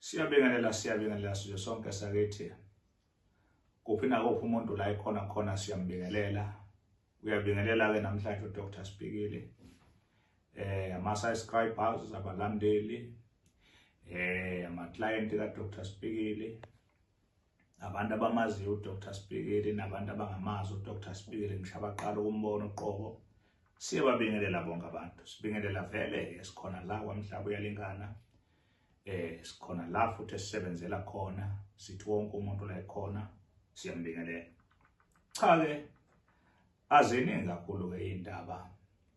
Siyabingelela siyabingelela sizwe sonke sakithi. Kuphi na kuphi umuntu la ikhona khona siyambingelela. Uyabingelela ke namhlanje uDr Sibikile. Eh ama subscribers abalandeli eh ama client ka Dr Sibikile. abantu abamaziyo uDr Sibhekeli nabantu abangamazi uDr Sibhekeli ngishabaqala ukumbona uqobo siyababingelela bonke abantu sibingelela vele esikhona la kwamhlaba uyalingana eh sikhona la futhi esisebenzela khona sithi wonke umuntu la ekhona siyambingelela cha ke Aziningi kakhulu-ke iy'ndaba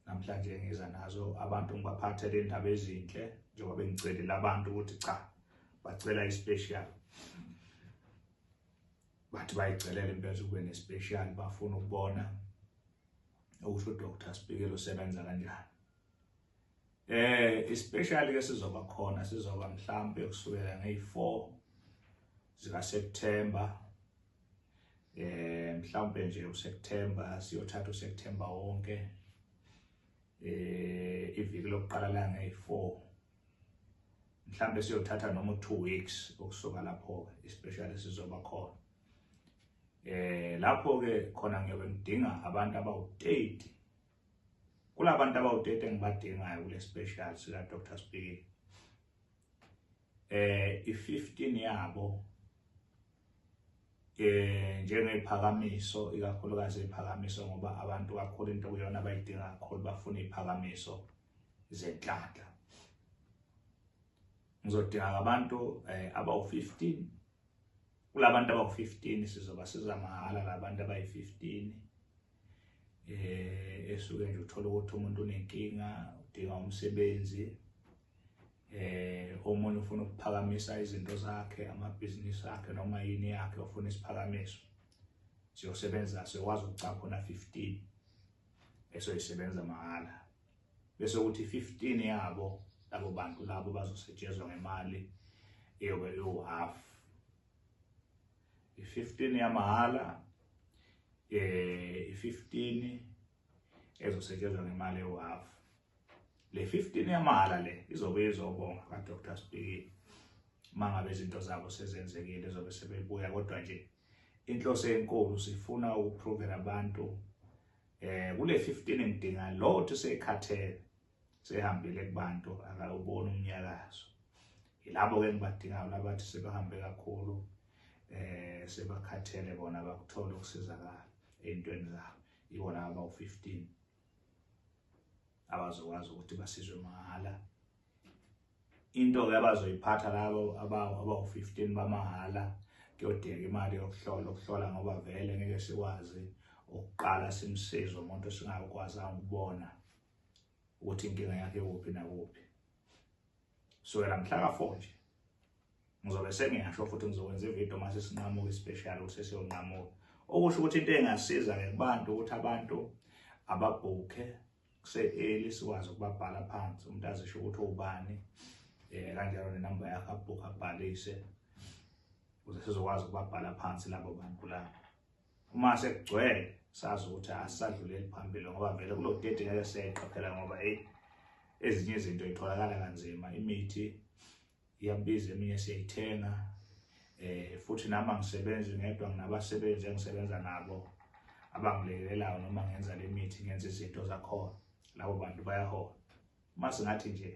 namhlanje engiza nazo abantu ngibaphathele iy'ndaba ezinhle njengoba bengicelela abantu ukuthi cha bacela i-special bathi bayicelela impela ukube ne-special bafuna ukubona okusho udr sibikele usebenza kanjani eh i-special ke sizoba khona sizoba mhlampe kusukela ngeyi-4 zikaSeptember eh mhlawumbe nje uSeptember siyothatha uSeptember wonke eh iviki lokuqala la ngeyi4 mhlawumbe siyothatha noma 2 weeks ukusuka lapho especially sizoba khona eh lapho ke khona ngiyobe ngidinga abantu abawu30 kulabantu abawu30 engibadingayo kule special sika Dr Speaking eh i-15 yabo eh njengeziphakamiso ikakhulukazi iziphakamiso ngoba abantu kakhulu into kuyona abayidinga kakhulu bafuna iziphakamiso zenhlanhla ngizodinga abantu eh, abawu-15 kulabantu abawu-15 sizoba siza mahhala labantu abayi-15 eh esuke nje uthola ukuthi umuntu unenkinga udinga umsebenzi eh omunye ufuna ukuphakamisa izinto zakhe amabhizinisi akhe noma yini yakhe ofuna isiphakamiso siyosebenza sekwazi ukucapha khona 15 esoyisebenza mahhala bese ukuthi 15 yabo labo bantu labo bazosetshezwa ngemali eyobe iwu-half i-15 yamahhala eh i-15 ezosetshezwa ngemali ewu-half le 15 yamahhala le izobe izobonga ka Dr Spiki mangabe izinto zabo sezenzekile zobe sebebuya kodwa nje inhloso enkulu sifuna ukuprovela abantu eh kule 15 ngidinga lo uthi sekhathele sehambile kubantu akawubona umnyakazo yilabo ke ngibadingayo labathi sebahambe kakhulu eh sebakhathele bona bakuthola ukusizakala ezintweni zabo iwona aba u15 abazokwazi ukuthi basizwe mahhala into-ke abazoyiphatha labo abawu-fifteen bamahhala kuyodeka imali yokuhlola ukuhlola ngoba vele ngeke sikwazi ukuqala simsize umuntu esingakwazanga ukubona ukuthi inkinga yakhe kuphi nakuphi sukela mhla ka-four nje ngizobe sengingasho futhi ngizokwenza ividiyo uma sesinqamuka ispecial ukuthi sesiyonqamuka okusho ukuthi into engasiza-ke kubantu ukuthi abantu ababhukhe kuse-eli sikwazi ukubabhala phansi umuntu azisho ukuthi ubani um kanjalo nenamba yakho abhukhe abhalise ukuze sizokwazi ukubabhala phansi labo bantu labo uma sekugcwele sazi ukuthi asisadluleli phambili ngoba vele kulo date ngeke seqaphela ngoba eyi ezinye izinto itholakala kanzima imithi iyabiza eminye siyayithenga eh futhi nami angisebenzi ngedwa nginabasebenzi engisebenza nabo abangilekelelayo noma ngenza le mithi ngenza izinto zakhona labo bantu bayahola uma singathi nje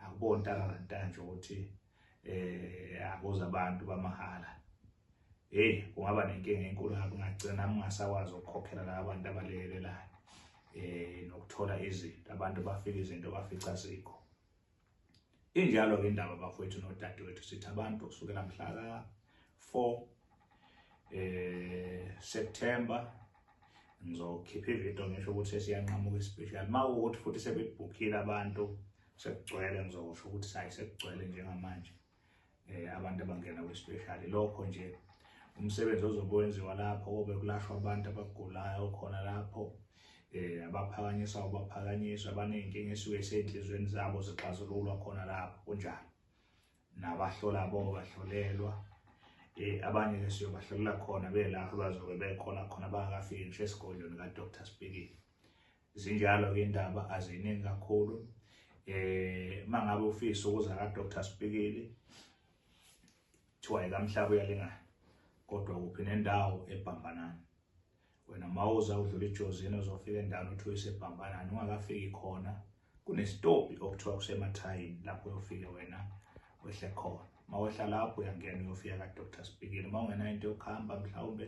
akubona ntakalantanje ukuthi eh akuza abantu bamahhala hey kungaba nenkinga enkulu ngakho ngagcina ngingasakwazi ukukhokhela laba bantu abalekelelayo eh nokuthola izinto abantu bafika izinto bafica zikho Injalo ke indaba bafowethu nodadewethu sithi abantu kusukela mhla ka 4 eh September ngizokhipha ivideo ngisho ukuthi siyanqamuka especial mawukuthi futhi sebebhukhile abantu sekugcwele ngizosho ukuthi sayi sekugcwele njengamanje eh, abantu abangena kwespecially lokho nje umsebenzi ozokwenziwa lapho kobe kulashwa abantu abagulayo khona lapho eh abaphakanyiswa ubaphakanyiswa abanenkinga esuke esenhlizweni zabo zixazululwa khona lapho kunjalo nabahlola bo bahlolelwa eh abanye ke siyobahlolela khona belapho bazobe bekhona khona bangakafiki ngisho esigodlweni ka Dr Spikile Zinjalo ke indaba aziningi kakhulu. Eh mangabe ufisa ukuza ka Dr Spikili thiwa ikamhlaba uyalingana kodwa kuphi nendawo ebhambanana. Wena mawuza udlula ijozini uzofika endaweni uthi uyisebhambanana ungakafiki khona kunesitopi okuthiwa kusemathayini lapho uyofike wena wehle khona. Mawehla lapho uyangena uyofika ka Dr Spikili. Mawungena into yokuhamba mhlawumbe